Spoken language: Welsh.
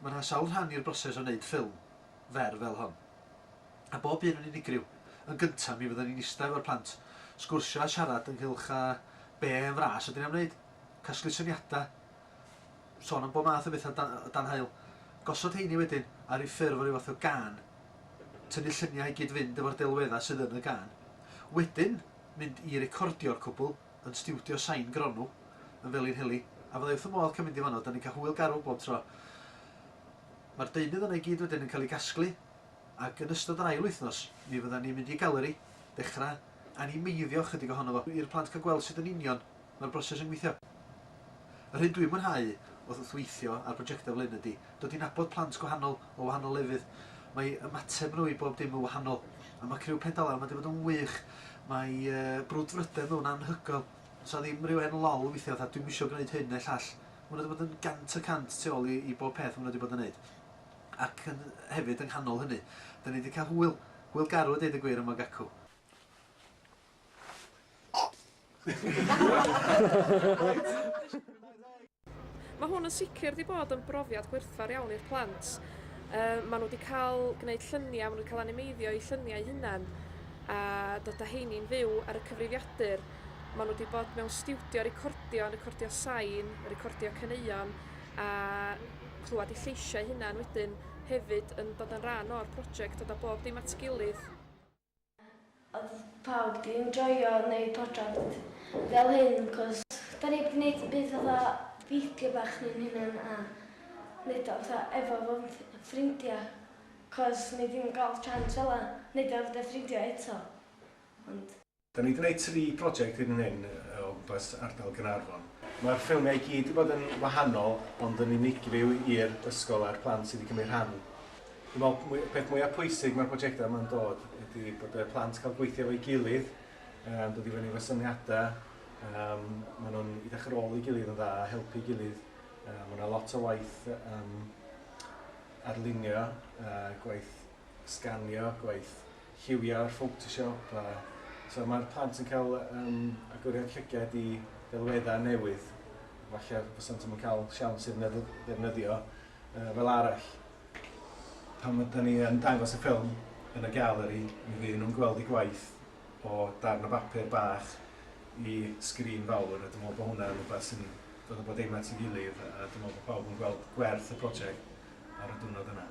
Mae yna sawl rhan i'r broses o wneud ffilm fer fel hon, a bob un yn unigryw. Yn gyntaf, mi fyddwn ni'n ista efo'r plant, sgwrsio a siarad ynghylch a be yn fras ydyn ni am wneud, casglu syniadau, sôn am bob math o bethau o dan haul, gosod heini wedyn ar ryw ffurf o ryw fath o gân, tynnu lluniau i gyd-fynd efo'r delweddau sydd yn y gân, wedyn mynd i recordio'r cwbl, yn stiwdio Shain Gronw yn Felinheli a fyddai wrth fy modd cael mynd i fanno, dan ni'n cael hwyl garw bob tro. Mae'r deunydd yna i gyd wedyn yn cael ei gasglu ac yn ystod yr ail wythnos mi fyddan ni'n mynd i galeri, dechrau animeiddio ychydig ohono fo, i'r plant cael gweld sut yn union mae'r broses yn gweithio. Yr hyn dwi'n mwynhau wrth weithio ar brojectau fel hyn ydy dod i nabod plant gwahanol o wahanol lefydd. Mae ymateb nhw i bob dim yn wahanol. A mae criw Pedalan wedi bod yn wych. Mae brwdfrydedd nhw'n anhygoel. Does 'na ddim rhyw hen lol weithiau fatha 'dwi'm isio gwneud hyn neu llall'. Maen nhw wedi bod yn gant y cant tu ôl i bob peth maen nhw wedi bod yn wneud. Ac hefyd yng nghanol hynny, 'da ni wedi cael hwyl. Hwyl garw a deud y gwir am y gacw. Mae hwn yn sicr wedi bod yn brofiad gwerthfawr iawn i'r plant. Uh, maen nhw wedi cael gwneud lluniau, maen nhw wedi cael animeiddio eu lluniau hunain a dod â heini'n fyw ar y cyfrifiadur. Maen nhw wedi bod mewn stiwdio recordio, recordio sain, recordio caneuon a clywed eu lleisiau hunain wedyn hefyd yn dod yn rhan o'r prosiect, dod â bob dim at gilydd. Odd pawb di enjoio neud project fel hyn cos da ni di neud byd fatha fideo bach ni'n hunan a neud o fatha efo fy ffrindia cos ni ddim yn gal chance fela neud o efo dy ffrindia eto ond. Da ni di neud tri project hyd yn hyn o gwmpas ardal Gaernarfon. Ma'r ffilmia i gyd di bod yn wahanol ond yn unigryw i'r ysgol a'r plant sy di cymryd rhan. Dwi'n meddwl y peth mwyaf pwysig mae'r prosiectau yma'n dod ydy bod y plant cael gweithio efo'i gilydd, um, dod i fyny efo syniadau, um, maen nhw'n edrych ar ôl ei gilydd yn dda, helpu gilydd. Um, mae yna lot o waith um, arlunio, uh, gwaith sganio, gwaith lliwio ar Photoshop. A, so mae'r plant yn cael um, agoriad llygad i ddelweddau newydd, falle bysant yn cael siawns i'r ddefnyddio uh, fel arall. Pan ydan ni yn dangos y ffilm yn y galeri, mi fydd nhw'n gweld eu gwaith o darn o bapur bach i sgrin fawr, a dwi'n meddwl bod hwnna'n rhywbeth sy'n dod â bob dim at ei gilydd, a dwi'n meddwl bod pawb yn gweld gwerth y prosiect ar y diwrnod yna.